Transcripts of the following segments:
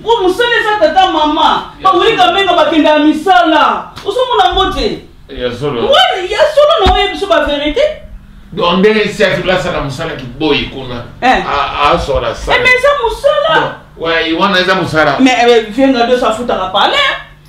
Ngo musala eza tata mama. Ba wuli kamenga bakenda ya misala. Osomona ngo te. Ya solo. Ngwana ya solo na oyebi so ba verite. Donc ndenge si atula asala musala kiboyi kuna. Eh. A a sora sala. Eh mais eza musala. Ouais, wana eza musala. Mais eh, venga do sa futa la palais.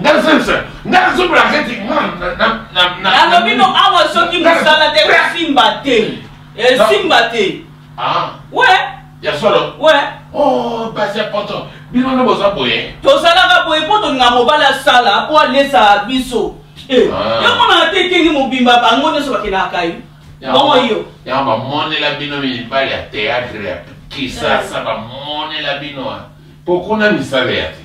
nga sasa nga nazobela kati nalobi no awa soki mosala te esimba te esimba te we ya solo we oh, basi ya poto bino nde boza boye tozalaka boye mpo tolinga mobali asala mpo alesa biso eh, ah. yomonaka te etenge mobimba bango nyonso bakendaka ye bongo yo yango bamonela bino mibali ya teatre ya kisasa bamonela bino mpo kuna misala ya te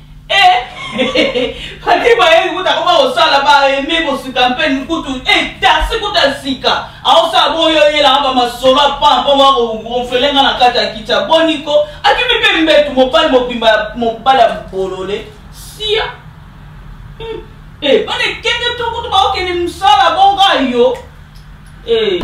ati bayebi kutu akoma kosala baeme kosuka mpe kutu etasi kutu ya sika aosala boyo oyelaka bamasolo apana mpo bakonfele nga na kati ya kiti ya boniko akimi mpe mbetu mobali mobimba ya mobali ya bolole sia hmm. eh, bana ekenge to kutu bakokende mosala bonga yo eh.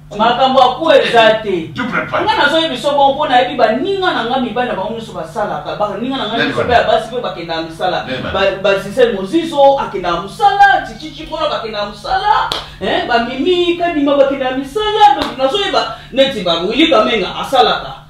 makambo ya kuwa eza te nga nazoyi biso bongo mpo nayebi baninga na nga mibali na bango nyonso basalaka baninga na nga nyonso mpe ya basi mpe bakendaka mosala bazise mozizo akendaka mosala tititi mpona bakendaka mosala bamimi kadima bakendaka misala donc nazoyeba neti bawili kamenga asalaka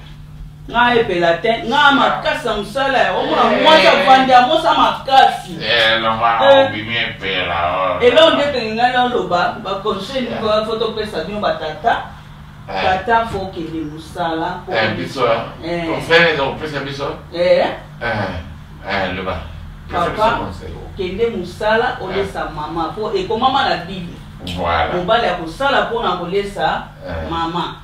nga epela te nga makasi na mosala ya omona eh. mwasi avandi amosa makasi eh, eh. eloko nde tolinga naloba baconseil nikoya fo topesa bino batata tata fo okende mosala papa okende mosala olesa mama po ekomama na bible mobali akosala mpona kolesa mama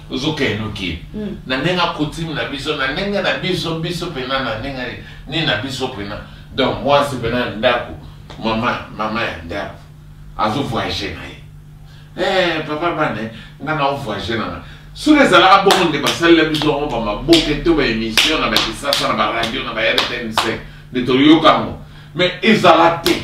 Zuka enoki mm. na ndenge akutime na biso na ndenge na biso biso mpena na ndenge nini na biso mpena donc mwasi mpena ya ndako mama mama ya ndako azovoyage na ye eh, papa bane nga na ovoyage na nga soki ezalaka bongo nde basalela biso yango bamaboke to baémission na bakisasa na baradio na ba rtnc nde toyoka yango mais ezala te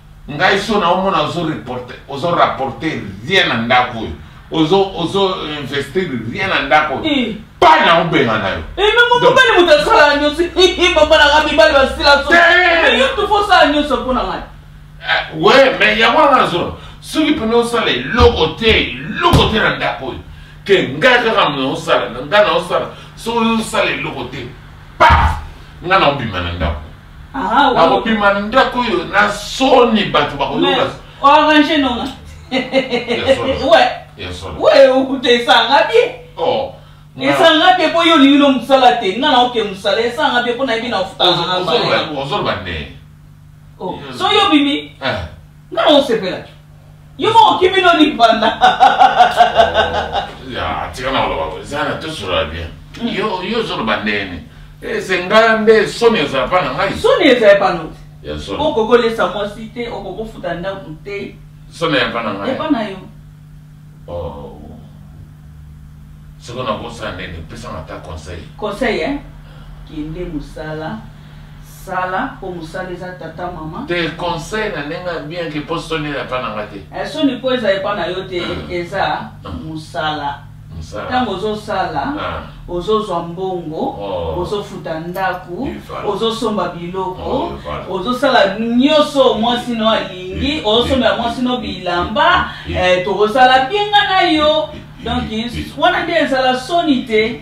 Ngai so na omona ozo reporter ozo rapporter rien na ndako oyo ozo ozo investir rien na ndako oyo eh. pa na obenga na yo eh, mobali moto asalaka nyonso bamonaka mibali basila soyoto fosala nyonso mpo na ngai we me yango wana nazona soki mpena osala eloko te eloko te na ndako oyo ke ngai kaka mna osala na ngai na osala soki osala eloko te pa ngai na obima na ndako Aha, wa- nakobima ndako oyo na soni bato Mais, bakoyoka orange nonga. solo. Ouais. ya solo Ouais, okuta esanga bien. Oh, nga- Esanga bien po yo olingi no mosala te. Nga na oke mosala esanga bien po na yebi na ofuta Ozo- nga mbala ozoloba- yango. ozoloba nde Oh, so yo bimi, Eh, nga na osepela. Yo moko okimi no libanda. Ya, tika na oloba ko. Zana to sura bien. Mm. Yo yo zo loba ndene. Eh, c'est ngai nde soni ezala pa na ngai. Soni ezala pa no. Ya soni. Oko ko lesa mwasi te, oko ko futa ndako te. Soni ya pa na ngai. Ya pa na yo. Oh. Soko na bosa ndene, pesa na ta conseil. Conseil eh? Kende musala. Sala po musala eza tata maman. Te conseil na ndenge ya bien ke po soni eza epa na nga te. Eh, soni po eza epa na yo te mm. eza mm. musala. ntango ozosala ah. ozozwa mbongo oh. ozofuta ndako ozosomba biloko oh, ozosala nyonso mwasi no alingi ozosombela mwasi no bilamba eh, tokosala bienga na yo donc wana nde ezala soni te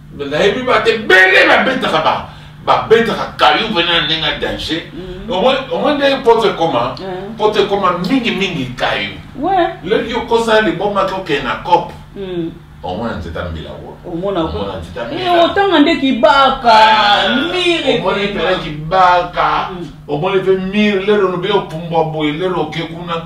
nayebi ba te bele babetaka ba babetaka kayu mpena na ndenge ya danger mm-hmm. omoi ndenge poto ekoma mm. poto ekoma mingi mingi kayu leki okosa libomaki okende na cope mm. omona nzete ya mbila otanga nde kibaka ah, miromoni mpena kibaka mm. omoni mpe mire lelo lobe opumbwa boye lelo oke kuna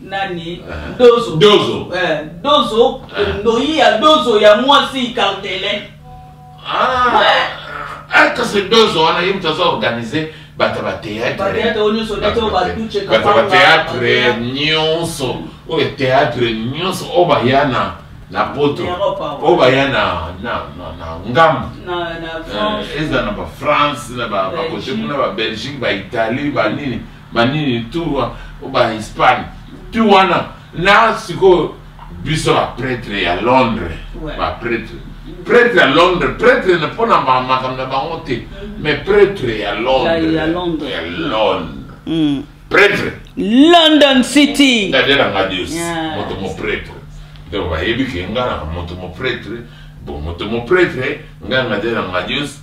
nani eh. dozo dozo eh, dozo eh. ndoyi ya dozo ya mwasi cartele ah. ah, kasi dozo wana ye moto aza organise bato ya bateatre nyonso oyo teatre nyonso oyo baya na na poto oyo baya na ngambo eza na bafrance na bakote kuna babelgique baitalie banini ba banini tour oyo bahispane tu wana na sikoyo biso bapretre ya londres bapretre pretre ya londres pretre na mpo na makambo na bango te mm. mais pretre ya londres ya londres mm. pretre london city nadelanga dios moto mopretre donc bayebi ke nga na moto mopretre bo moto mopretre nga nadelanga dios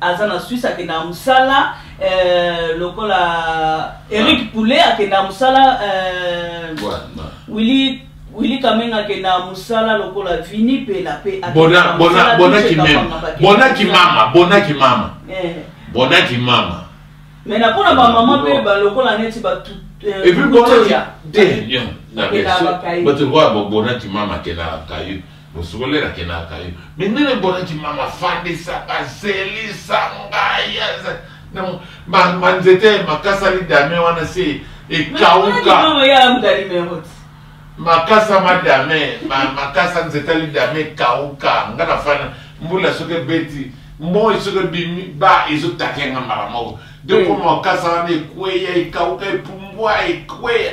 aza na suisse akendaka mosala euh, lokola eric ah. poulet akendaka mosala willi euh, wili kamenga akenda mosala lokola vini pela mpe bonaki mama bonaki mama eh. bonaki mama me na mpona bamama mpe balokola neti bato bato lokola bonaki mama akendaka kayo Bosokolela kenaka ye. Mais nene bonaki mama fandisa bazelisa ngai aza na ma ma nzete makasali dame wana se ekauka. Mama ya mudali merot. makasa madame ma, makasa nzete ali dame ekauka nga na fana mbula soki ebeti moi soki ebimi ba ezotaka yanga mbala moko donc mm. makasa wana ekweya ekauka epumbwa ekweya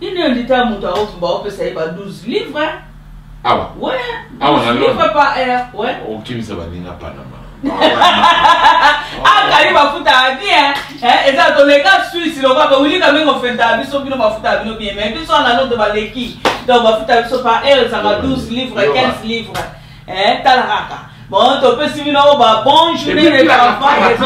Nini yo ndita moto aoki baopesa ye ba 12 livre awa we awa na livre pa air we okimisa baninga panama akali ah, mafuta ya bien eh, eza toleka swisse lokola bawili kamenga ofentaka biso bino mafuta ya bino bien mai biso anano to baleki donc mafuta ya biso pa air ezanga 12 livre 15 livre Eh, tala kaka. Bon, topesi bino ba bon journée de travail.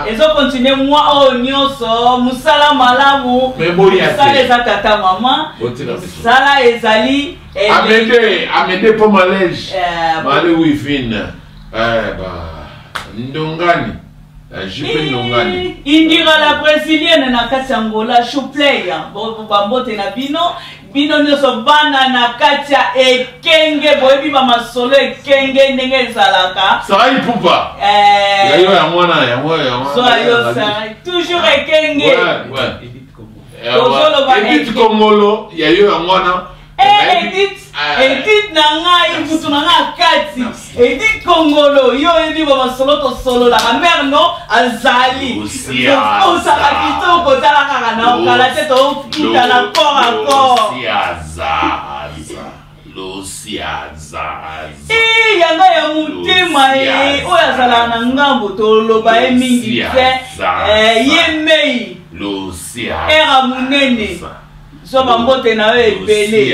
Ezo continuer moi oyo oh, nyonso mosala malamu mosala eza tata mama mosala ezali eh, amede amede mpo malege eh, male wivine eh, ndongani jupe ndongani indira la brésilienne na kati ya ngola chouplay bambote na bino bino nyonso bana na kati ya ekenge boyebi bamasolo ekenge ndenge ezalaka sarai pupa eh. yayo ya mwana yango yayo sarai toujours ekenge eh, tozoloba edit kongolo yayo ya mwana eh, edit edit na ngai mutu na ngai kati Edi Kongolo, yo oyebi ba masolo tosololaka mère no azali osaka kitoko tala kaka na okala te tokutana corps à corps e yanga ya motema ye oyo azalaka na ngambo toloba ye mingi te eh, ye mei era monene zwa bambote na yo ebele